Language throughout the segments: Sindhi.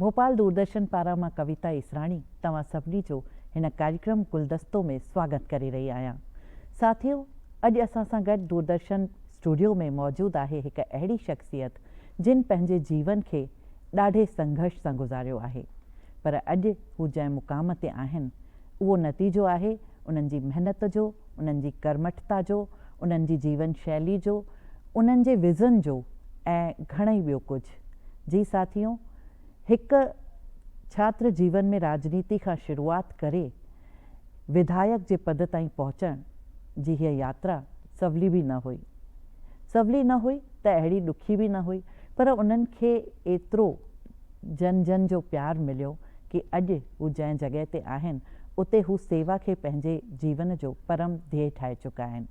ڀوپال دوردرشن پاران مان ڪويتا ايسراڻي توهان سڀني جو هن ڪاريڪرم گلدستو ۾ سواگت ڪري رهي آهيان. ساٿيو اڄ اسان سان گڏ دوردرشن اسٽوڊيو ۾ موجود آهي هڪ اهڙي شخصيت جن پنهنجي جيون کي ڏاڍي سنگهرش سان گذاريو آهي پر اڄ هو جنهن مقام تي آهن اهو نتيجو آهي انهن جي محنت جو، انهن جي ڪرمٺتا جو، انهن جي جيون شيلي جو، انهن جي ويزن جو ۽ گهڻئي ٻيو ڪجهه. جي ساٿيو! هڪ ڇاتر جيون ۾ راڄنيتي کان شروعات ڪري وڌايڪ جي پد تائين پهچڻ جي هيء ياترا سولي به نه هئي. سولي نه هئي ته اهڙي ڏکي به نه هئي پر انهن کي ايترو. جن جن جو پيار مليو ڪي اڄ هو جنهن جڳهه تي آهن اتي هو سيوا کي پنهنجي جيون جو پرم ڌيئي ٺاهي چڪا آهن.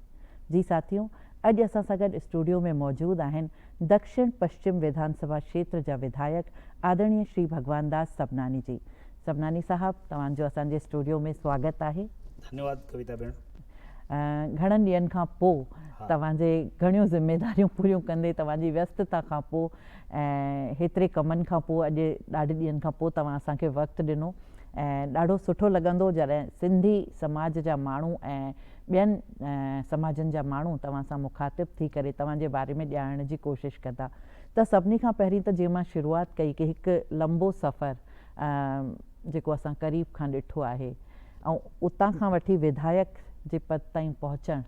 جي ساٿيو اڄ اسان سان گڏ اسٽوڊيو ۾ موجود آهن دڪشڻ پشچم وڌان سڀا کيتر جا وڌايڪ آدرڻي شري ڀڳوان داس سڀناني جي. سڀناني صاحب توهان جو اسان جي اسٽوڊيو ۾ سواگت آهي. ڌنيواد ڪويتا ڀيڻ. گهڻن ڏينهن کان پو توهان جي گهڻيون ذميداريون پوريون ڪندي توهان جي ويستتا کان پو ۽ هيتري ڪمن کان پوء اڄ ڏاڍي ڏينهن کان پوء توهان اسان کي وقت ڏنو ۽ ڏاڍو سٺو لڳندو جڏهن سنڌي سماج جا ماڻهو ۽ ٻين سماجن جا ماڻهو توهان سان مخاطب ٿي ڪري توهان جي باري ۾ ڄاڻڻ جي ڪوشش ڪندا ته سڀني کان پهرين ته جيئن مان شروعات ڪئي ڪي هڪ لمبو سفر جيڪو اسان قريب کان ڏٺو آهي ۽ اتان کان وٺي وڌايڪ جي پد تائين پهچڻ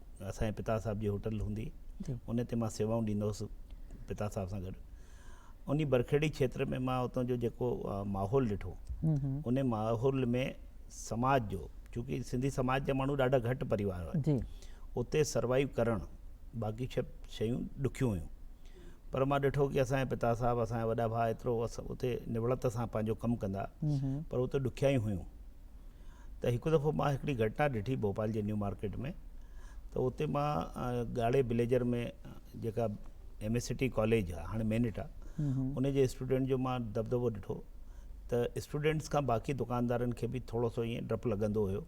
اسان جي پتا صاحب جي هوٽل هوندي ان تي مان سيوائون ڏيندو هوس پتا صاحب سان گڏ اني برکيڙي کيتر ۾ مان اتو جو جيڪو ماحول ڏٺو اني ماحول ۾ سماج جو چونڪه سنڌي سماج جا ماڻهو ڏاڍا گهٽ پريوار هئا اتي سروائيو ڪرڻ باقي شب شيون ڏکيون هيون پر مان ڏٺو ڪي اسان جي پتا صاحب اسان جا وڏا ڀا اترو اتي نوڙت سان پنهنجو ڪم ڪندا پر اتي ڏکيائيون هيون ته هڪ دفعو مان هڪڙي گهٽنا ڏٺي ڀوپال جي نيو مارڪيٽ ۾ ته اتي مان ڳاڙهي بليجر ۾ جيڪا ايم اي سٽي ڪاليج آهي هاڻي مينٽ آهي ان جي اسٽوڊنٽ جو مان دبدبو ڏٺو ته اسٽوڊنٽس کان باقي دڪاندارن کي به ٿورو سو ائين ڊپ لڳندو هيو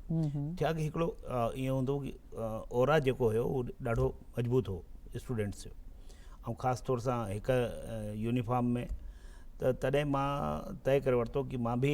ڇا ڪي هڪڙو ائين هوندو هو ڪي اورا جيڪو هيو اهو ڏاڍو مضبوط هو اسٽوڊنٽس جو ۽ خاص طور سان هڪ يونيفارم ۾ ته تڏهن مان طئي ڪري ورتو ڪي مان به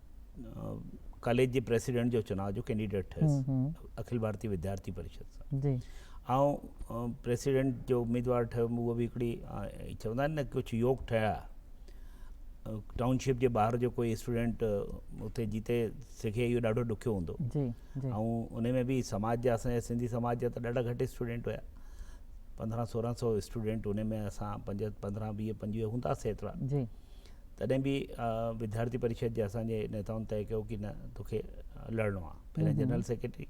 ڪاليج جي پريسيڊنٽ جو چناء جو ڪينڊيڊيٽ ٺهيس اکل ڀارتي وديارٿي پريشد سان جي آئون پريسيڊنٽ جو اميدوار ٺهيم اهو به هڪڙي چوندا آهن نه ڪجهه يوگ ٺهيا ٽائون شپ جي ٻاهر جو ڪوئي اسٽوڊنٽ اتي جيتي سکي اهو ڏاڍو ڏکيو هوندو جي جي آئون ان ۾ به سماج جا اسان سنڌي سماج جا ته ڏاڍا گهٽ اسٽوڊنٽ هيا پندرهن سورهن سو اسٽوڊنٽ ان ۾ اسان پنج پندرهن ويهه پنجويهه هونداسي ايترا جي تڏهن به وديارٿي پريشد جي اسان جي نيتائن طئي ڪيو ڪي نه توکي لڙڻو آ پهرين جنرل سيڪريٽري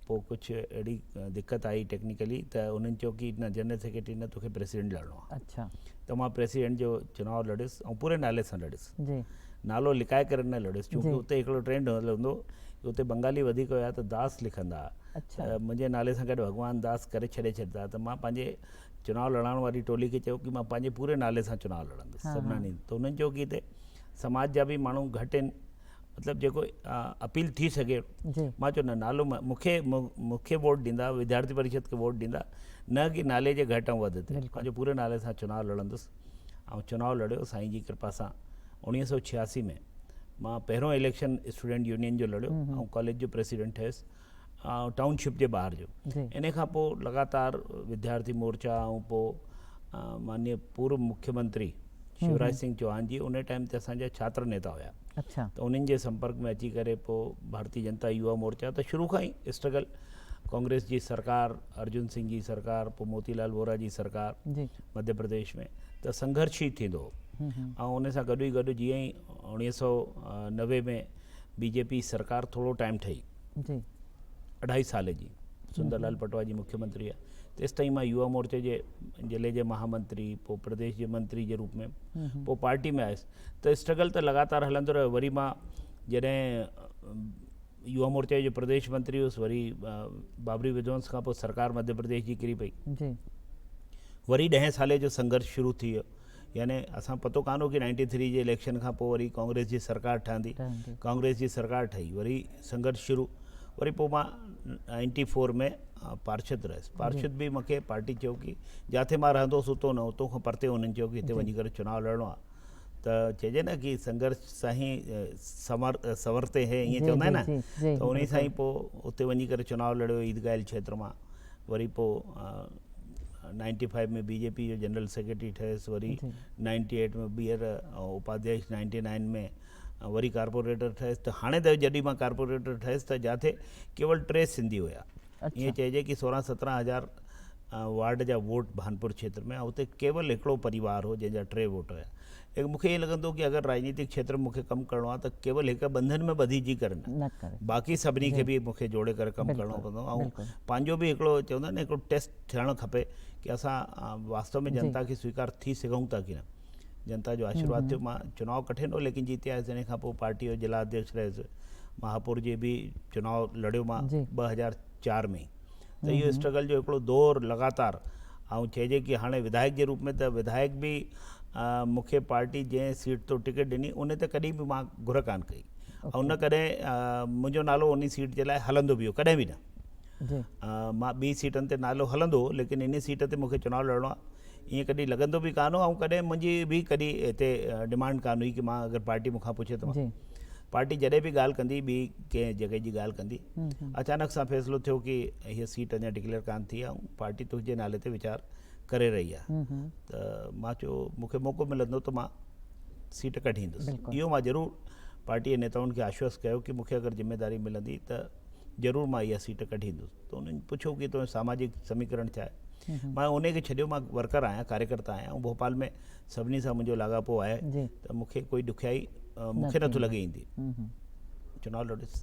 پو ڪجهه اهڙي دقت آئي ٽيڪنيڪلي ته انهن چيو ڪي نه جنرل سيڪريٽري نه توکي پريسيڊنٽ لڙڻو آ اچھا ته مان پريسيڊنٽ جو چناء لڙيس ۽ پوري نالي سان لڙيس جي نالو لڪائي ڪري نه لڙيس چونڪه اتي هڪڙو ٽرينڊ هلندو اتي بنگالي وڌيڪ هيا ته داس لکندا اچھا منهنجي نالي سان گڏ ڀڳوان داس ڪري ڇڏي ڇڏيندا ته مان پنهنجي چناء لڙائڻ واري ٽولي کي چيو ڪي مان پنهنجي پوري نالي سان چناء لڙندس سڀناني ته انهن چيو ڪي هتي سماج جا به ماڻهو گهٽ آهن مطلب جيڪو اپيل ٿي سگهي مان چيو نه نالو مونکي مونکي ووٽ ڏيندا وديارٿي پريشد کي ووٽ ڏيندا نه ڪي نالي جي گهٽ ۽ وڌ تي پنهنجي پوري نالي سان چناء لڙندس ۽ چناء لڙيو سائين جي ڪرپا سان اوڻيهه سؤ ڇياسي ۾ مان پهريون اليڪشن اسٽوڊنٽ يونين جو لڙيو ۽ ڪاليج جو پريسيڊنٽ ٺهيس ٽائون شپ جي ٻاهر جو ان کان پوء لڳاتار وديارٿي مورچا ۽ پوء مانيء پورو مکي منتري شوراج سنگهه چوهان جي ان ٽائيم تي اسان جا ڇاتر نيتا هيا ته انهن جي سمپرڪ ۾ اچي ڪري پوء ڀارتي جنتا يووا مورچا ته شروع کان ئي اسٽرگل ڪانگريس جي سرڪار ارجن سنگهه جي سرڪار پوء موتي لال وورا جي سرڪار مڌيه پرديش ۾ ته سنگهرش ئي ٿيندو هو ۽ ان سان گڏ ئي گڏ جيئن ئي اڻويهه سؤ نوي ۾ بي جي پي سرڪار ٿورو ٽائيم ٺهي جي اڍائي سال جي سندر لال پٽوا جي مکي منتري آهي تيستائين مان يووا مورچي جي ضلعي جي مها منتري پوء پرديش جي منتري جي روپ ۾ پوء پارٽي ۾ آيس ته اسٽرگل ته لڳاتار هلندو رهيو وري مان جڏهن يووا مورچي جو پرديش منتري هوس وري بابري وڌونس کان پوء سرڪار مڌيه پرديش جي ڪري پئي جي وري ڏهين سالي جو سنگرش شروع ٿي ويو يعني اسان پتو ڪانه هو ڪي نائنٽي ٿري جي اليڪشن کان پوء وري ڪانگريس جي سرڪار ٺهندي ڪانگريس جي سرڪار ٺهي وري سنگرش شروع وري پوء مان نائنٽي فور ۾ پارشد رهيس پارشد به مونکي پارٽي چيو ڪي جاٿي مان رهندو هوس اتو نه اتو کان پرتي انهن چيو ڪي هتي وڃي ڪري چناو لڙڻو آهي ته چئجي نه ڪي سنگرش سائين سمر سورتي هي ائين چوندا آهن نه ته انهي سائين پوء اتي وڃي ڪري چناو لڙيو عيدگاهل کيتر مان وري پوء ninety five ۾ B J P جو جنرل سيڪريٽري ٺهيس وري نائنٽي ايٽ ۾ ٻيهر اپاديش نائنٽي نائن ۾ وري ڪارپوريٽر ٺهيس ته هاڻي ته جڏهن مان ڪارپوريٽر ٺهيس ته جاٿي ڪيول ٽي سنڌي هيا ائين چئجي کی سورهن سترهن هزار وارڊ جا ووٽ بهانپور کيتر ۾ اتي ڪيول هڪڙو پريوار هو جنهن جا ٽي ووٽ هيا ايڪ مونکي ائين لڳندو ڪي اگر راڄنيتڪ کيتر ۾ مونکي ڪم ڪرڻو آهي ته ڪيول هڪ ٻنڌن ۾ ٻڌي جي ڪري نه باقي سڀني کي به مونکي جوڙي ڪري ڪم ڪرڻو پوندو ۽ پنهنجو به هڪڙو چوندا آهن نه هڪڙو ٽيسٽ ٿيڻ کپي ڪي اسان واستو ۾ جنتا کي سويڪار ٿي سگهون ٿا ڪي نه جنتا جو آشيرواد ٿيو مان چناو ڪٺي نه هو ليڪن جيتي آيس ان کان پوء پارٽي جو ضلع اڌيڪش رهيس مهاپور جي به چناو لڙيو مان ٻه هزار چار ۾ ته اهو اسٽرگل جو هڪڙو دور لڳاتار ائون چئجي ڪي هاڻي وڌايڪ جي روپ ۾ ته وڌايڪ به مون کي پارٽي جنهن سيٽ تون ٽڪيٽ ڏني ان تي ڪڏهن به مان گهر ڪان ڪئي ۽ نه ڪڏهن منهنجو نالو ان سيٽ جي لاء هلندو به هو ڪڏهن به نه مان ٻي سيٽن تي نالو هلندو ليڪن ان سيٽ تي مون کي چوناو لڙڻو آهي ائين ڪڏهن لڳندو به ڪانه هو ۽ ڪڏهن منهنجي به ڪڏهن هتي ڊمانڊ ڪانه هئي ڪي مان اگر پارٽي مون کان پڇي ته مان پارٽي جڏهن به ڳالهه ڪندي ٻي ڪنهن جڳهه جي ڳالهه ڪندي اچانڪ سان فيصلو ٿيو ڪي هيء سيٽ اڃا ڊڪليئر ڪانه ٿي آهي ۽ پارٽي تنهنجي نالي تي ويچار ڪري رهي آهي ته مان چيو مون کي موقعو ملندو ته مان سيٽ ڪڍيندس اهو مان ضرور پارٽي جي نيتائن کي آشوست ڪيو ڪي مون کي اگر ذميداري ملندي ته ضرور مان اها سيٽ ڪڍي ايندس ته انهن پڇيو ڪي تنهنجو ساماجڪ سميڪرڻ ڇا آهي مان انهي کي ڇڏيو مان ورڪر آهيان ڪاريڪرتا آهيان ۽ ڀوپال ۾ سڀني سان منهنجو لاڳاپو آهي ته مون کي ڪوئي ڏکيائي مون کي نٿو لڳي ايندي چناو لڙيس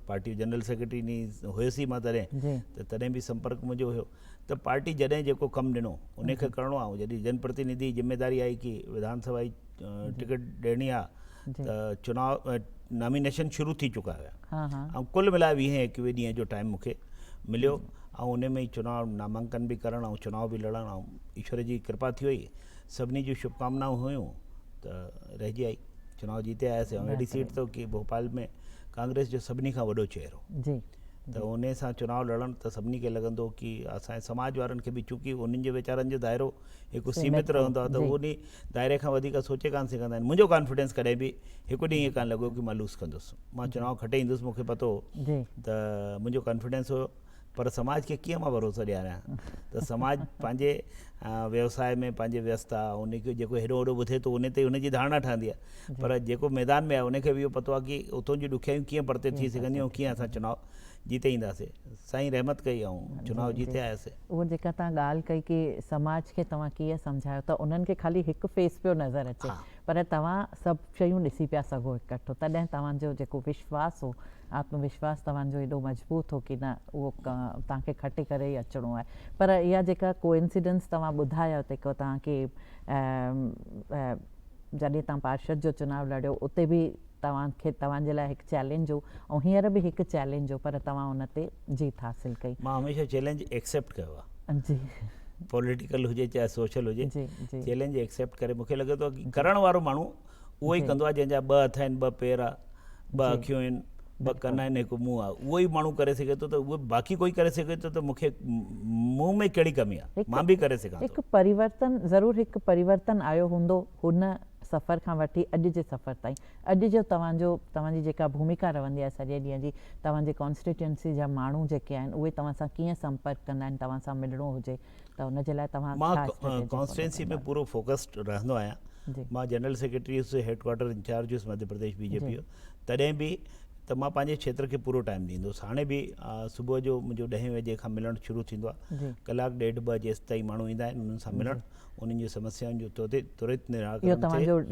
پارٽي جنرل سيڪريٽري ني هيس ئي مان تڏهن ته تڏهن به سمپرڪ منهنجو هيو ته پارٽي جڏهن جيڪو ڪم ڏنو ان کي ڪرڻو آهي جڏهن جن پرتينڌي ذميداري آئي ڪي وڌان سڀا جي ٽڪيٽ ڏيڻي آ ته چنا نامينيشن شروع ٿي چڪا هيا ۽ ڪل ملائي ويهين ايڪويهين ڏينهن جو ٽائيم مونکي مليو ۽ ان ۾ چنا نامانڪن به ڪرڻ ۽ چنا به لڙڻ ۽ ايشور جي ڪرپا ٿي وئي سڀني جون شڀ ڪامنائون هيون ته رهجي آئي چنا جيتي آياسي ۽ اهڙي سيٽ ته ڪي ڀوپال ۾ ڪانگريس جو سڀني کان وڏو چهرو ته انهي سان چناء لڙڻ ته سڀني کي لڳندو ڪي اسان جي سماج وارن کي به چونڪي انهن جو ويچارن جو دائرو هڪ سيمت رهندو آهي ته هو انهي دائري کان وڌيڪ سوچي ڪانه سگهندا آهن منهنجو ڪانفيڊنس ڪڏهن به هڪ ڏينهن ايئن ڪانه لڳو ڪي مان لوس ڪندس مان چناء کٽي ايندس مون کي پتو هو ته منهنجو ڪانفيڊنس هو پر سماج کي ڪيئن مان ڀروسو ڏياريان ته سماج پنهنجي ويوساء ۾ پنهنجي ويستا انهي کي جيڪو هيڏو هوڏو ٻڌي ٿو انهي تي هن جي ڌارڻا ٺهندي آهي پر جيڪو ميدان ۾ آهي ان کي به اهو پتو آهي ڪي اتون جون ڏکيائيون ڪيئن پرتي ٿي سگهنديون ۽ ڪيئن اسان چناء جيتي اينداسي. سائين رحمت ڪئي ۽ چناء جيتي آياسي. اهو جيڪا توهان ڳالهه ڪئي ڪي سماج کي توهان ڪيئن سمجهايو ته انهن کي خالي هڪ فيس پيو نظر اچي پر توهان سڀ شيون ڏسي پيا سگهو اڪٺو تڏهن توهان جو جيڪو وشواس هو آتم وشواس توهان جو ايڏو مضبوط هو ڪي نه اهو توهان کي کٽي ڪري ئي اچڻو آهي پر اها جيڪا ڪوئنسيڊنس توهان ٻڌايا ته توهان کي جڏهن توهان پارشد جو چناء لڙيو اتي به توهان کي توهان جي لاء هڪ چئلينج هو ۽ هينئر به هڪ چئلينج هو پر توهان ان تي جيت حاصل ڪئي. مان هميشه چئلينج ايڪسيپٽ ڪيو آهي. جي. پوليٽيڪل هجي چاهي سوشل هجي جي جي. چئلينج ايڪسيپٽ ڪري مون کي لڳي ٿو ڪرڻ وارو ماڻهو اهو ئي ڪندو آهي جنهن جا ٻه هٿ آهن ٻه پير آهي ٻه اکيون آهن، ٻه ڪن آهن، هڪ منهن آهي. اهو ئي ماڻهو ڪري سگهي ٿو ته اهو باقي ڪوئي ڪري سگهي ٿو ته مون کي مون ۾ ڪهڙي ڪمي آهي؟ مان به ڪري سگهان ٿو. هڪ پريورتن ضرور هڪ پريورتن آيو هوندو هن سفر کان وٺي اڄ جي سفر تائين. اڄ جو توهان جو توهان جي جيڪا ڀوميڪا رهندي آهي سڄي ڏينهن جي، توهان جي ڪانسٽيٽيونسي جا ماڻهو جيڪي آهن اهي توهان سان ڪيئن سمپرڪ ڪندا آهن توهان سان ملڻو هجي، ته ان جي لاء توهان مان ڪانسٽيٽوئنسي ۾ پورو فوڪسڊ رهندو آهيان مان جنرل سيڪريٽري هيس هيڊ ڪوارٽر انچارج هيس مڌيه پرديش بي جي پي جو تڏهن به ته مان پنهنجي کيتر کي پورو ٽائيم ڏيندو هوس هاڻي به صبح جو منهنجو ڏهين وجي کان ملڻ شروع ٿيندو آهي ڪلاڪ ڏيڍ ٻه جيسين تائين ماڻهو ايندا آهن انهن سان ملڻ انهن جون سمسيائن جو ترت نراڪرڻ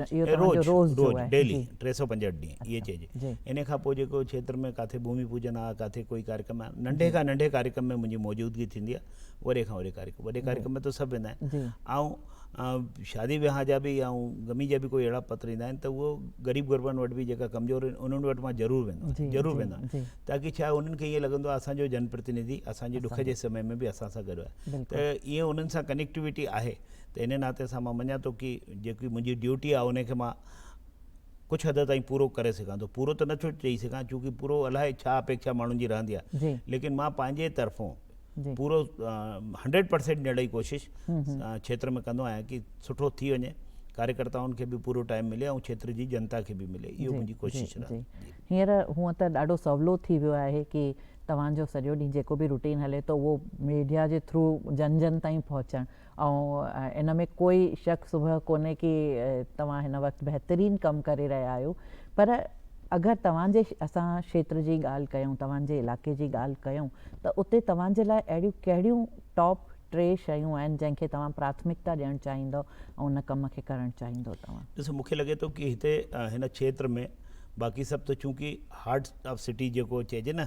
ٿئي روز روز ڊيلي ٽي سؤ پنجهٺ ڏينهن اهي چئجي ان کان پوء جيڪو کيتر ۾ ڪاٿي ڀومي پوجن آهي ڪاٿي ڪوئي ڪاريڪرم آهي ننڍي کان ننڍي ڪاريڪرم ۾ منهنجي موجودگي ٿيندي آهي وڏي کان وڏي ڪاريڪرم وڏي ڪاريڪرم ۾ ته سڀ ويندا آهن ۽ شادي وياهه جا به ۽ غمي جا به ڪوئي اهڙا پتر ايندا آهن ته اهو غريب غربن وٽ به جيڪا ڪمزور آهن انهن وٽ مان ضرور ويندو آهيان ضرور ويندو آهيان تاڪي ڇا آهي انهن کي ائين لڳندو آهي اسان جو جن پرتنڌي اسان جي ڏک جي سمي ۾ به اسان سان گڏ آهي ته ائين انهن سان ڪنيڪٽيوٽي آهي ته ان ناتي سان مان مڃان ٿو ڪي جيڪي منهنجي ڊيوٽي آهي ان کي مان ڪجهه حد تائين پورو ڪري سگهان ٿو پورو ته نٿو چئي سگهان چونڪي پورو الاهي ڇا اپيکشا ماڻهن جي رهندي آهي ليڪن مان پنهنجي طرفون پورو هنڊريڊ پرسينٽ ڏيڻ جي ڪوشش کيتر ۾ ڪندو آهيان ڪي سٺو ٿي وڃي ڪاريڪرتائن کي به پورو ٽائيم ملي ۽ کيتر جي جنتا کي به ملي اهو منهنجي ڪوشش رهندي هينئر هونئن ته ڏاڍو سولو ٿي ويو آهي ڪي توهان جو سڄو ڏينهن جيڪو به روٽين هلي ٿو اهو ميڊيا جي ٿرو جن جن تائين پهچڻ ائون ان ۾ ڪوئي شڪ سبهه ڪونهي ڪي توهان هن وقت بهترين ڪم ڪري رهيا آهيو پر اگر توهان جي اسان شيتر جي ڳالهه ڪيون توهان جي علاقي جي ڳالهه ڪيون ته اتي توهان جي لاء اهڙيون ڪهڙيون ٽاپ ٽي شيون آهن جنهن کي توهان پراٿمڪتا ڏيڻ چاهيندؤ ۽ ان ڪم کي ڪرڻ چاهيندؤ توهان. ڏسو مون کي لڳي ٿو ڪي هتي هن کيتر ۾ باقي سڀ ته چونڪي هارٽ آف سٽي جيڪو چئجي نه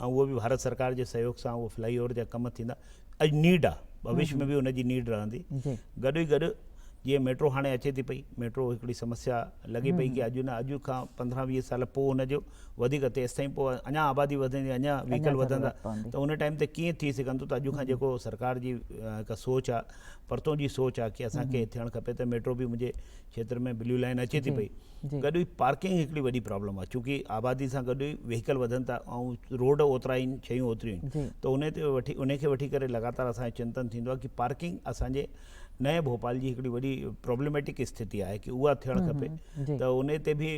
۽ اهو به ڀارت سرڪار جي سهيوگ سان اهو فلائي اوور جا ڪم ٿيندا اڄ نيڊ آ ڀوش ۾ به ان جي نيڊ رهندي گڏ ئي گڏ جيئن ميٽرو هاڻي اچي ٿي پئي ميٽرو هڪڙي سمسيا لڳي پئي ڪي اڄ نه اڄ کان پندرهن ويهه سال پوء ان جو وڌيڪ تيستائين پوء اڃا آبادي وڌندي اڃا ويهڪل وڌندا ته ان ٽائيم تي ڪيئن ٿي سگهندو ته اڄ کان جيڪو سرڪار جي هڪ سوچ آ پرتون جي سوچ آ ڪي اسان کي ٿيڻ کپي ته ميٽرو به مجھي کيتر ۾ بليو لائين اچي ٿي پئي گڏ ئي پارڪنگ هڪڙي وڏي پرابلم آهي چونڪه آبادي سان گڏ ويهيڪل وڌن ٿا ۽ روڊ اوترا آهن شيون اوتريون آهن ته ان تي وٺي ان کي وٺي ڪري لڳاتار اسانجو چنتن ٿيندو آهي ڪي پارڪنگ اسانجي نئين ڀوپال جي هڪڙي وڏي پرابلميٽڪ استھتي آهي ڪي اها ٿيڻ کپي ته ان تي به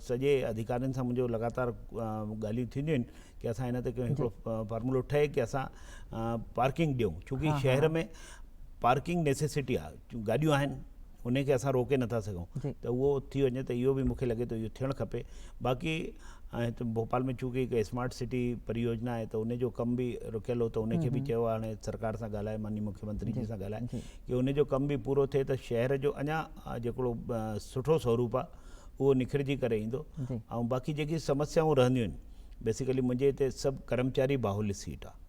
سڄي اڌيڪارين سان منهنجو لڳاتار ڳالهيون ٿينديون آهن ڪي اسان ان تي ڪيون هڪڙو فارمولو ٺهي ڪي اسان پارڪنگ ڏيون چونڪه شهر ۾ پارڪنگ نيسيسٽي آهي جون گاڏيون آهن انهن کي اسان روڪي نٿا سگهون ته اهو ٿي وڃي ته اهو به مون کي لڳي ٿو اهو ٿيڻ کپي باقي هتي ڀوپال ۾ چونڪه هڪ اسمارٽ سٽي پريوجنا آهي ته ان جو ڪم به رڪيل هو ته ان کي به چيو هاڻي سرڪار سان ڳالهائي ماني مکي منتري جي سان ڳالهائي ڪي ان جو ڪم به پورو ٿئي ته شهر جو اڃا جيڪڙو سٺو سوروپ آهي اهو نکرجي ڪري ايندو ۽ باقي جيڪي سمسيائون رهنديون آهن بيسيڪلي منهنجي هتي سڀ ڪرمچاري باهولي سيٽ آهي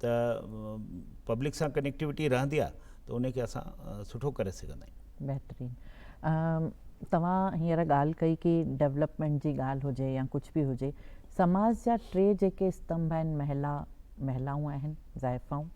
ته پبلڪ سان ڪنيڪٽيوٽي رهندي آهي ته ان کي اسان سٺو ڪري سگهندا آهيون. بهترين توهان هينئر ڳالهه ڪئي ڪي ڊولپمينٽ جي ڳالهه هجي يا ڪجهه به هجي سماج جا ٽي جيڪي استنڀ آهن مهلا مهلائون آهن زائفائون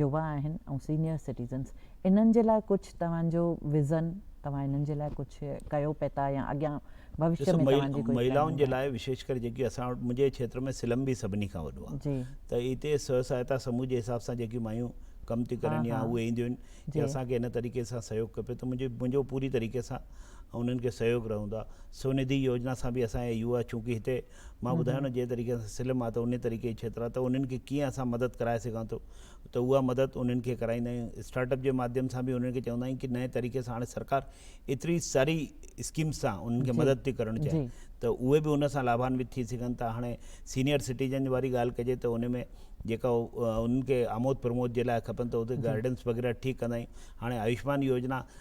يوا آهن ۽ سينيئر سٽيزنس انهن جي لاء ڪجهه توهان جو وزن توهان انهن جي لاء ڪجهه ڪيو پئي ٿا يا اڳيان ڀوشيء ۾ توهان جي ڪوئي پلاننگ آهي؟ ڏسو مهيلائن جي لاء وشيش ڪري جيڪي اسان وٽ منهنجي کيتر ۾ سلم به سڀني کان وڏو آهي ته هتي سوء سهائتا سموه جي حساب سان جيڪي مايون ڪم ٿي ڪرن يا اهي اينديون آهن جي اسان کي هن طريقي سان سهيوگ کپي ته منهنجي منهنجو پوري طريقي سان انهن کي سهيوگ رهندو آهي سونڌي يوجنا سان به اسان جي يووا چونڪه هتي مان ٻڌايو نه جنهن طريقي سان سلم آ ته انهي طريقي جي ڇيتر آ ته انهن کي ڪيئن اسان مدد ڪرائي سگهان ٿو ته اها مدد انهن کي ڪرائيندا آهيون اسٽارٽ اپ جي ماڌيم سان به انهن کي چوندا آهيون ڪي نئين طريقي سان هاڻي سرڪار ايتري ساري اسڪيمس سان انهن کي مدد ٿي ڪرڻ چاهي ته اهي به ان سان لاڀانوت ٿي سگهن ٿا هاڻي سينيئر سٽيزن واري ڳالهه ڪجي ته انهي ۾ جيڪا انهن کي آمود پرمود جي لاء کپن ته اتي گائيڊنس وغيره ٺيڪ ڪندا آهيون هاڻي آيوشمان يوجنا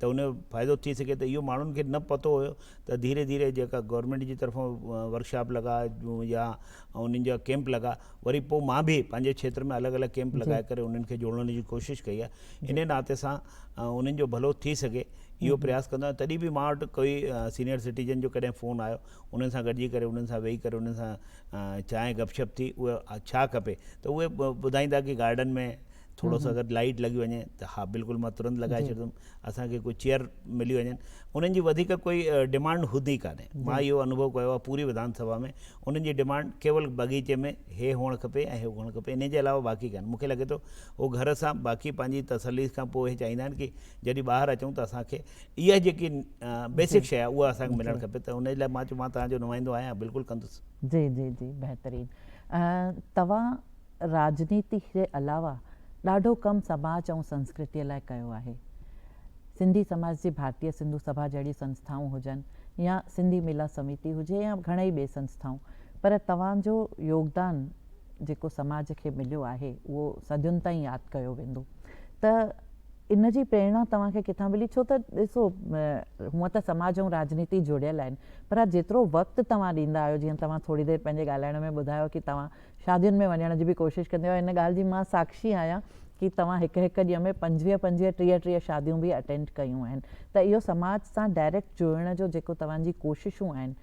ته ان جو فائدو ٿي سگهي ته اهو ماڻهن کي نه پتو هيو ته ڌيري ڌيري جيڪا گورنمينٽ جي طرفان ورڪشاپ لڳا يا انهن جا ڪيمپ لڳا وري پوء مان به پنهنجي کيتر ۾ الڳ الڳ ڪيمپ لڳائي ڪري انهن کي جوڙڻ جي ڪوشش ڪئي آهي انهي ناتي سان انهن جو ڀلو ٿي سگهي اهو پرياس ڪندو آهيان تڏهن به مان وٽ ڪوئي سينئر سٽيزن جو ڪڏهن فون آيو انهن سان گڏجي ڪري انهن سان ويهي ڪري انهن سان چانهه گپ شپ ٿي اهو ڇا کپي ته اهي ٻڌائيندا ڪي گارڊن ۾ ٿورو سو اگر لائيٽ لڳي وڃي ته ها بلڪل مان ترنت لڳائي ڇڏيندم اسان کي ڪو چيئر ملي وڃن انهن جي وڌيڪ ڪوئي ڊمانڊ هوندي ئي ڪانهي مان اهو انوڀو ڪيو آهي پوري وڌان سڀا ۾ انهن جي ڊمانڊ ڪيول باغيچي ۾ هي هئڻ کپي ۽ هو هئڻ کپي انهن جي علاوه باقي ڪانهي مون کي لڳي ٿو هو گهر سان باقي پنهنجي تسلي کان پوء هي چاهيندا آهن ڪي جڏهن ٻاهر اچون ته اسان کي اها جيڪي بيسڪ شي آهي اها اسان کي ملڻ کپي ته انهن جي لاء مان چيو مان توهان جو نمائندو آهيان بلڪل ڪندس جي جي جي بهترين توهان راڄنيتي جي علاوه ڏاڍو ڪم سماج ۽ سنسڪرتيء لاء ڪيو آهي. سنڌي سماج جي ڀارتيه سنڌو سڀا جهڙيون سنسٿائون هجن يا سنڌي ملاح سميتي هجي يا گهڻيئي ٻي سنسٿائون پر توهان جو يوگدان جيڪو سماج کي مليو آهي اهو صدين تائين ياد ڪيو ويندو ته ان جي پريرڻا توهان کي ڪٿان ملي ڇو ته ڏسو هونئن ته سماج ۽ راڄنيتي جڙيل آهن پر جيترو وقت توهان ڏيندا آهيو جيئن توهان ٿوري دير پنهنجي ڳالهائڻ ۾ ٻڌايو ڪي توهان شادين ۾ وڃڻ جي به ڪوشش ڪندي هئا، ان ڳالهه جي مان ساکشي آهيان ڪي توهان هڪ هڪ ڏينهن ۾ پنجويهه پنجويهه ٽيهه ٽيهه شاديون به اٽينڊ ڪيون آهن ته اهو سماج سان ڊائريڪٽ جڙڻ جو جيڪو توهان جي ڪوششون آهن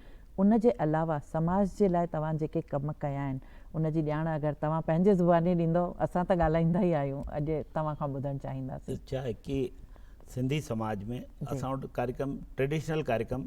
ان جي علاوه سماج جي لاء توهان جيڪي ڪم ڪيا آهن ان جي ڄاڻ اگر توهان پنهنجي زباني ڏيندؤ اسان ته ڳالهائيندا ئي آهيون اڄ توهان کان ٻڌڻ چاهينداسين. ڇا آهي ڪي سنڌي سماج ۾ اسان وٽ ڪاريڪرم ٽريڊيشنل ڪاريڪرم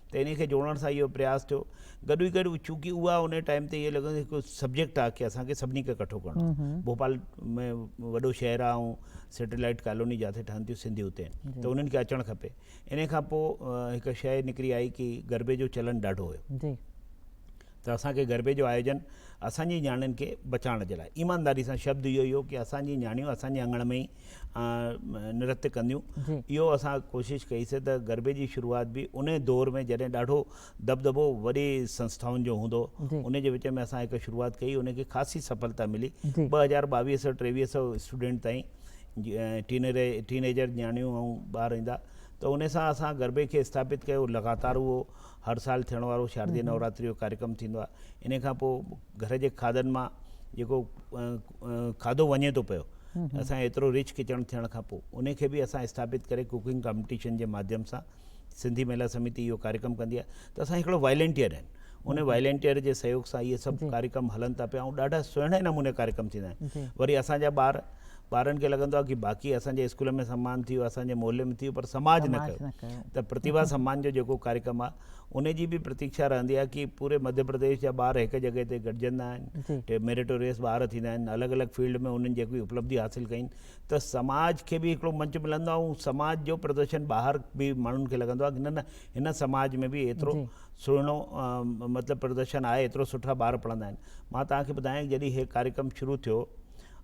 ته انهي کي جوڙڻ سان اهو پرياس ٿيو گڏ ئي گڏ چونڪه اها انهي ٽائيم تي اهي لڳندو هڪ سبجيڪٽ آهي ڪي اسان کي سڀني کي ڪٺو ڪرڻو آهي ڀوپال ۾ وڏو شهر آهي ۽ سيٽلائيٽ ڪالوني جاٿي ٺهن ٿيون سنڌي اتي ته انهن کي اچڻ کپي انهي کان پوء هڪ شيء نڪري آئي ڪي غربي جو چلن ڏاڍو هيو ته اسان کي غربي جو آيوجن اسان جي نياڻين کي بچائڻ جي لاء ايمانداري سان شبد اهو ئي هو ڪي اسان جي نياڻيون اسان جي اڱڻ ۾ ئي نرتي ڪنديون اهو اسان ڪوشش ڪئي سي ته غربي جي شروعات به ان دور ۾ جڏهن ڏاڍو دٻدٻو وڏي سنسٿائن جو هوندو هو ان جي وچ ۾ اسان هڪ شروعات ڪئي ان کي خاصي سڦلتا ملي ٻه هزار ٻاويهه سئو ٽيويهه سئو اسٽوڊنٽ تائين ٽينيجر نياڻيون ۽ ٻار ايندا ته ان سان اسان غربي کي اسٿاپت ڪيو لڳاتار اهو هر سال ٿيڻ وارو شاردي نوراتري جو ڪاريڪرم ٿيندو آهي ان کان پوء گهر جي کاڌن مان جيڪو کاڌو وڃي ٿو پيو اسان ايترو رچ ڪچن ٿيڻ کان پوء ان کي به اسان اسٿاپت ڪري ڪوڪنگ ڪامپٽيشن جي ماڌيم سان سنڌي مهيلا سمتي اهو ڪاريڪرم ڪندي آهي ته اسان هڪڙو وائلنٽيئر آهن ان وائلنٽيئر جي سهيوگ سان اهي سڀ ڪاريڪرم هلن ٿا پيا ۽ ڏاڍا سهڻي نموني ڪاريڪرم ٿيندا آهن وري اسان جا ٻار ٻارن کي لڳندو آهي ڪي باقي اسان جي اسڪول ۾ سمان ٿيو اسان جي محلي ۾ ٿيو پر سماج نه ڪيو ته پرتيڀا سمان جو جيڪو ڪاريڪرم آهي ان جي به پرتيڪشا رهندي آهي ڪي پوري مڌيه پرديش جا ٻار هڪ جڳهه تي گڏجندا آهن ميريٽوريس ٻار ٿيندا آهن الڳ الڳ فيلڊ ۾ انهن جيڪي اپلبڌي حاصل ڪئي ته سماج کي به هڪڙو منچ ملندو آهي ۽ سماج جو پردرشن ٻاهر به ماڻهن کي لڳندو آهي نه نه هن سماج ۾ به ايترو سهڻو مطلب پردرشن آهي ايترو سٺا ٻار پڙهندا آهن مان تهان کي ٻڌايان جڏهن هي ڪاريڪرم شروع ٿيو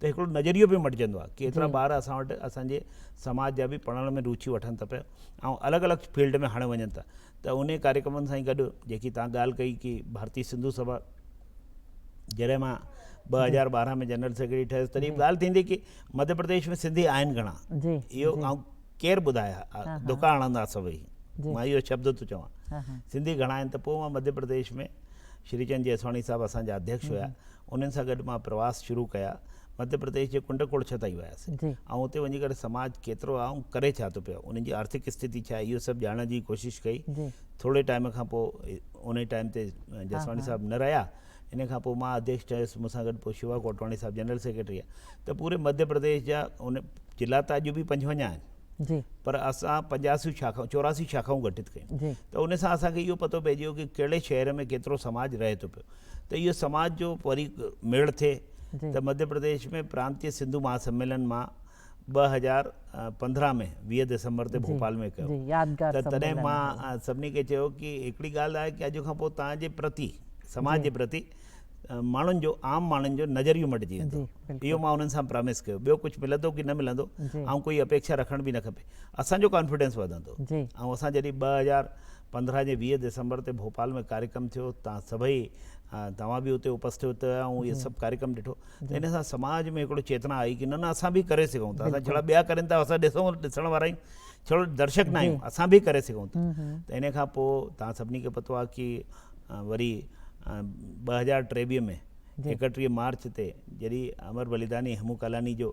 ته هڪڙو نظريو به مٽجندو آهي ڪي ايترا ٻار اسان وٽ اسان جي سماج جا به پڙهڻ ۾ روچي وٺن ٿا پيا ۽ الڳ الڳ فيلڊ ۾ هاڻي وڃن ٿا ته انهي ڪاريڪرمن سان ئي گڏ جيڪي تان ڳالهه ڪئي ڪي ڀارتي سنڌو سڀا جڏهن مان ٻه هزار ٻارهن ۾ جنرل سيڪريٽري ٺهيس تڏهن به ڳالهه ٿيندي ڪي مڌيه پرديش ۾ سنڌي آهن گهڻا اهو آئون ڪير ٻڌايا دڪا هڻندا سڀئي مان اهو شبد ٿو چوان سنڌي گهڻا آهن ته پوء مان مڌيه پرديش ۾ شري چند جيسواڻي صاحب اسان جا اڌيڪش هيا انهن سان گڏ مان پرواس شروع ڪيا. مڌيه پرديش جي ڪنڊ ڪوڙڇ تائين ويس. آئون اتي وڃي ڪري سماج ڪيترو آ ۽ ڪري ڇا ٿو پيو، انهن جي آرٿڪ استٿتي ڇا آهي، اهو سڀ ڄاڻڻ جي ڪوشش ڪئي. ٿوري ٽائيم کان پوء ان ئي ٽائيم تي جسواڻي صاحب نه رهيا. ان کان پوء مان اڌيڪش ٺهيس. مون سان گڏ پوء شوا ڪوٽواڻي صاحب جنرل سيڪريٽري آ. ته پوري مڌيه پرديش جا ان ضلعا ته اڄ به پنجونجاهه آهن. پر اسان پنجاسيون شاخائون، چوراسيون شاخائون گٺت ڪيون. ته ان سان اسان کي اهو پتو پئجي ويو ڪي ڪهڙي شهر ۾ ڪيترو سماج رهي ٿو پيو. ته اهو سماج جو وري ميڙ ٿئي ته مڌيه پرديش ۾ پرانتيه سنڌو مها سميلن مان ٻه هزار پندرهن ۾ ويهه دسمبر تي ڀوپال ۾ ڪيو ته تڏهن مان سڀني کي چيو ڪي هڪڙي ڳالهه آهي ڪي اڄ کان پوء توهان جي پرتي سماج جي پرتي ماڻهن جو عام ماڻهن جو نظريو مٽجي ويندو اهو مان انهن سان پرامس ڪيو ٻيو ڪجهه ملندو ڪي نه ملندو آئون ڪوئي اپيڪشا رکڻ به نه کپي اسان جو ڪانفيڊنس وڌندو آئون اسان جڏهن ٻه هزار پندرهن جي ويهه دسمبر تي ڀوپال ۾ ڪاريڪرم ٿيو تان سڀئي توهان به اتي اپسٿوت هيا ۽ اهي سڀ ڪاريڪرم ڏٺو ته ان سان سماج ۾ هڪڙو چيتنا آئي ڪي نه نه اسان به ڪري سگهون ٿا اسان جهڙا ٻيا ڪرين ٿا اسان ڏسون ڏسڻ وارا آهيون ڇڙو درشڪ نه آهيون اسان به ڪري سگهون ٿا ته ان کان پوء توهان سڀني کي پتو آهي ڪي وري ٻه هزار ٽيويهه ۾ ايڪٽيهه مارچ تي جڏهن امر بليداني هيمو ڪالاني جو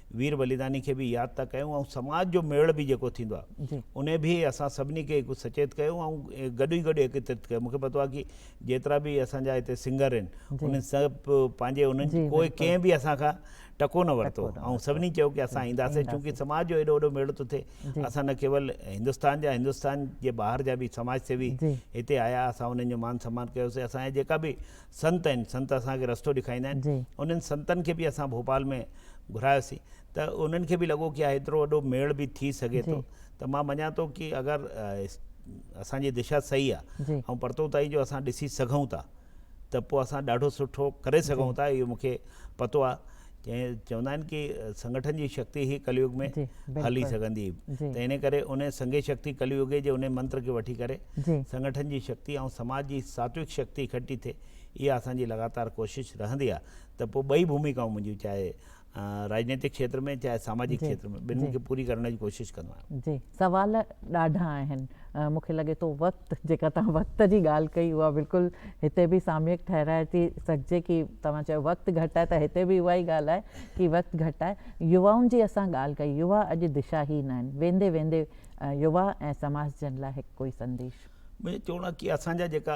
وير بليداني کي به ياد ٿا ڪيون ۽ سماج جو ميڙ به جيڪو ٿيندو آهي ان به اسان سڀني کي هڪ سچيت ڪيو ۽ گڏ ئي گڏ ايڪترت ڪيو مونکي پتو آهي ڪي جيترا به اسان جا هتي سنگر آهن انهن سڀ پنهنجي انهن ڪوئي ڪنهن به اسان کان ٽڪو نه ورتو ۽ سڀني چيو ڪي اسان اينداسين چونڪه سماج جو ايڏو وڏو ميڙ ٿو ٿئي اسان نه ڪيول هندستان جا هندستان جي ٻاهر جا به سماج سيوي هتي آيا اسان انهن جو مان سمان ڪيوسي اسان جا جيڪا به سنت آهن سنت اسان کي رستو ڏيکاريندا آهن انهن سنتن کي به اسان ڀوپال ۾ گهرايوسين ته انهن کي به لڳو ڪي ايترو وڏو ميڙ به ٿي سگهي ٿو ته مان مڃان ٿو ڪي اگر اسان جي دشا صحيح آهي ۽ پرتو تائين جو اسان ڏسي سگهون ٿا ته پوء اسان ڏاڍو سٺو ڪري سگهون ٿا اهو مون کي پتو آهي جنهن چوندا آهن ڪي سنگٺن جي شڪتي هي ڪليوگ ۾ هلي سگهندي ته انهي ڪري ان سنگهي شڪتي ڪليوگي جي انهي منتر کي وٺي ڪري سنگٺن جي شڪتي ۽ سماج جي ساتويڪ شڪتي اڪٺي ٿئي اها اسان جي لڳاتار ڪوشش رهندي آهي ته پوء ٻئي ڀوميڪائون منهنجيون چاهي راجنيتڪ کيتر ۾ چاهي ساماجڪ کيتر ۾ ٻنهي کي پوري ڪرڻ جي ڪوشش ڪندو آهيان. جي سوال ڏاڍا آهن مون کي لڳي ٿو وقت، جيڪا توهان وقت جي ڳالهه ڪئي اها بلڪل هتي به ساميڪ ٺهرائي ٿي سگهجي ڪي توهان چيو وقت گهٽ آهي ته هتي به اها ئي ڳالهه آهي ڪي وقت گهٽ آهي. يوائن جي اسان ڳالهه ڪئي، يووا اڄ دشاهين آهن، ويندي ويندي يووا ۽ سماج جن لاء هڪ ڪوئي سنديش. منهنجو چوڻ آهي ڪي اسان جا جيڪا.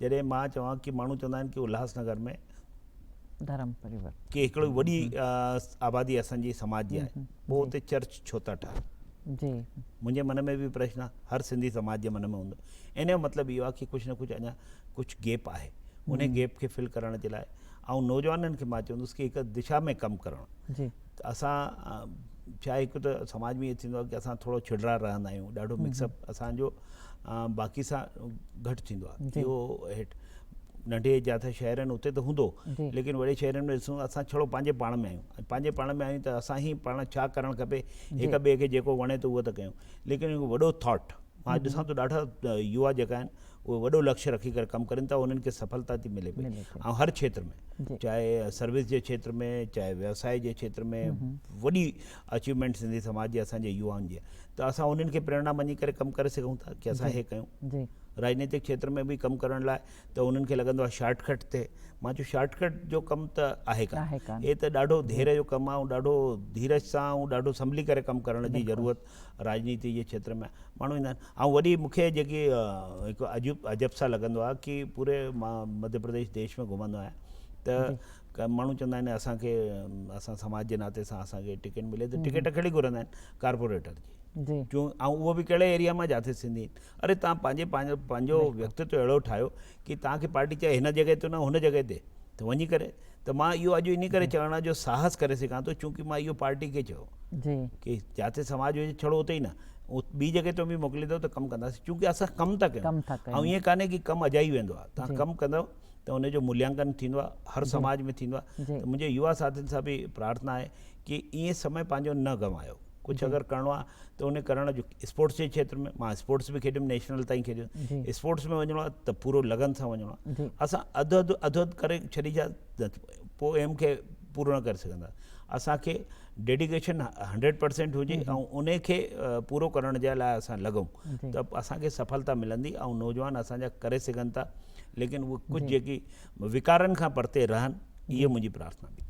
جڏهن مان چوان ڪي ماڻهو چوندا آهن ڪي الهاس نگر ۾ ڌرم پريورتن ڪي هڪڙي وڏي آبادي اسان جي سماج جي آهي پو اتي چرچ ڇو ٿا ٺاهن جي منهنجي من ۾ به پرشن آهي هر سنڌي سماج جي من ۾ هوندو ان جو مطلب اهو آهي ڪي ڪجهه نه ڪجهه اڃا ڪجهه گيپ آهي ان گيپ کي فل ڪرڻ جي لاء آئون نوجوانن کي مان چوندس ڪي هڪ دشا ۾ ڪم ڪرڻ ته اسان ڇا هڪ ته سماج ۾ ائين ٿيندو آهي ڪي اسان ٿورو ڇڙڙا رهندا آهيون ڏاڍو مڪس اپ اسان جو باقي سان گهٽ ٿيندو آهي اهو هيٺ ننڍي جاٿا شهر آهن اتي ته هوندو ليڪن وڏي شهرن ۾ ڏسون اسان ڇڙو پنهنجي پاڻ ۾ آهيون پنهنجي پاڻ ۾ آهيون ته اسان هي پاڻ ڇا ڪرڻ کپي هڪ ٻئي کي جيڪو وڻي ته اهو ته ڪيون ليڪن هڪ وڏو ٿاٽ مان اڄ ڏسان ٿو ڏاڍا يوا جيڪا آهن اهي وڏو لڪش رکي ڪري ڪم ڪرين ٿا انهن کي سڦلتا ٿي ملي پئي ۽ هر کيتر ۾ چاهي سروس جي کيتر ۾ چاهي ويوسائي جي کيتر ۾ وڏي اچيومينٽ سنڌي سماج جي اسان جي يوائن جي ته اسان انهن کي پريرنا مڃي ڪري ڪم ڪري سگهون ٿا ڪي اسان هي ڪيون راجنيتڪ کيتر ۾ به ڪم ڪرڻ لاء ته انهن کي لڳندو آهي شارٽ ڪٽ تي مان چيو شارٽ ڪٽ جو ڪم ته آهي ڪانه هي ته ڏاڍو ڌير جو ڪم آهي ۽ ڏاڍو ڌيرج سان ۽ ڏاڍو سنڀلي ڪري ڪم ڪرڻ جي ضرورت راڄنيتي جي کيتر ۾ ماڻهو ايندا آهن ۽ وڏي مون کي جيڪي هڪ عجيب عجب سان لڳندو آهي ڪي پوري مان مڌيه پرديش ديش ۾ گهمندو آهيان ته ماڻهو چوندا آهن اسان کي اسان سماج جي ناتي سان اسان کي ٽڪيٽ ملي ته ٽڪيٽ ڪهڙي گهرندا آهن ڪارپوريٽر جي جو ۽ اهو به ڪهڙي ايريا مان جاٿي سنڌي اري تان پنهنجي پنهنجو پنهنجو ويڪتتو اهڙو ٺاهيو ڪي تان کي پارٽي چاهي هن جڳهه تي نه هن جڳهه تي ته وڃي ڪري ته مان اهو اڄ انهي ڪري چوڻ جو ساهس ڪري سگهان ٿو چونڪه مان اهو پارٽي کي چيو جي ڪي جاتي سماج هجي ڇڙو اتي ئي نه ٻي جڳهه تي به موڪليندو ته ڪم ڪنداسين چونڪه اسان ڪم ٿا ڪيون ۽ ائين ڪانهي ڪي ڪم اجائي ويندو آهي تان ڪم ڪندو ته ان جو مليانڪن ٿيندو آهي هر سماج ۾ ٿيندو آهي ته منهنجي يوا ساٿين سان به پرارٿنا آهي ڪي ائين سمي پنهنجو نه گنوايو ڪجهه اگر ڪرڻو آهي ته ان ڪرڻ جو اسپورٽس جي کيتر ۾ مان اسپورٽس به کيڏيم نيشنل تائين کيڏيم اسپورٽس ۾ وڃڻو آهي ته پورو لگن سان وڃڻو آهي اسان اڌ اڌ اڌ اڌ ڪري ڇڏيندا پوء ايم کي پورو نه ڪري سگهندا اسانکي ڊيڊيڪيشن هنڊريڊ پرسينٽ هجي ۽ ان کي پورو ڪرڻ جي لاء اسان لڳون ته اسانکي سڦلتا ملندي ۽ نوجوان اسانجا ڪري سگهن ٿا ليڪن هو ڪجهه جيڪي ويڪارن کان پرتي رهن اهي منهنجي پرارٿنا به.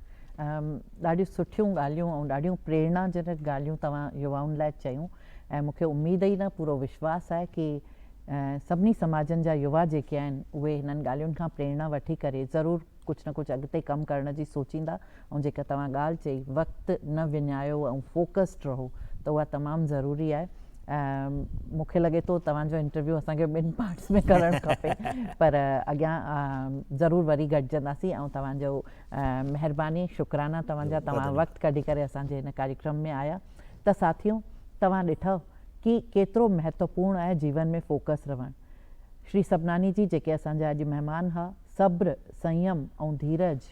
ڏاڍيون سٺيون ڳالهيون ۽ ڏاڍيون پريرنا جنڪ ڳالهيون توهان يوائن لاء چيون ۽ مون کي اميد ئي نه پورو وشواس آهي ڪي سڀني سماجن جا يوا جيڪي آهن اهي هنن ڳالهين کان پريرنا وٺي ڪري ضرور ڪجهه نه ڪجهه اڳتي ڪم ڪرڻ جي سوچيندا ۽ جيڪا توهان ڳالهه چئي وقت نه وڃايو ۽ فوڪسڊ رهو ته اها تمام ضروري آهي مون کي لڳي ٿو توهان جو انٽرويو اسان کي ٻن پارٽس ۾ ڪرڻ کپي پر اڳيان ضرور وري گڏجنداسين ۽ توهان جو مهرباني شڪرانا توهان جا توهان وقت ڪڍي ڪري اسان جي هن ڪاريڪرم ۾ آيا ته ساٿيو توهان ڏٺئو ڪي ڪيترو مهتوپورن آهي جيون ۾ فوڪس رهڻ شري سبناني جي جيڪي اسان جا اڄ مهمان ها صبر سنيم ۽ ڌيرج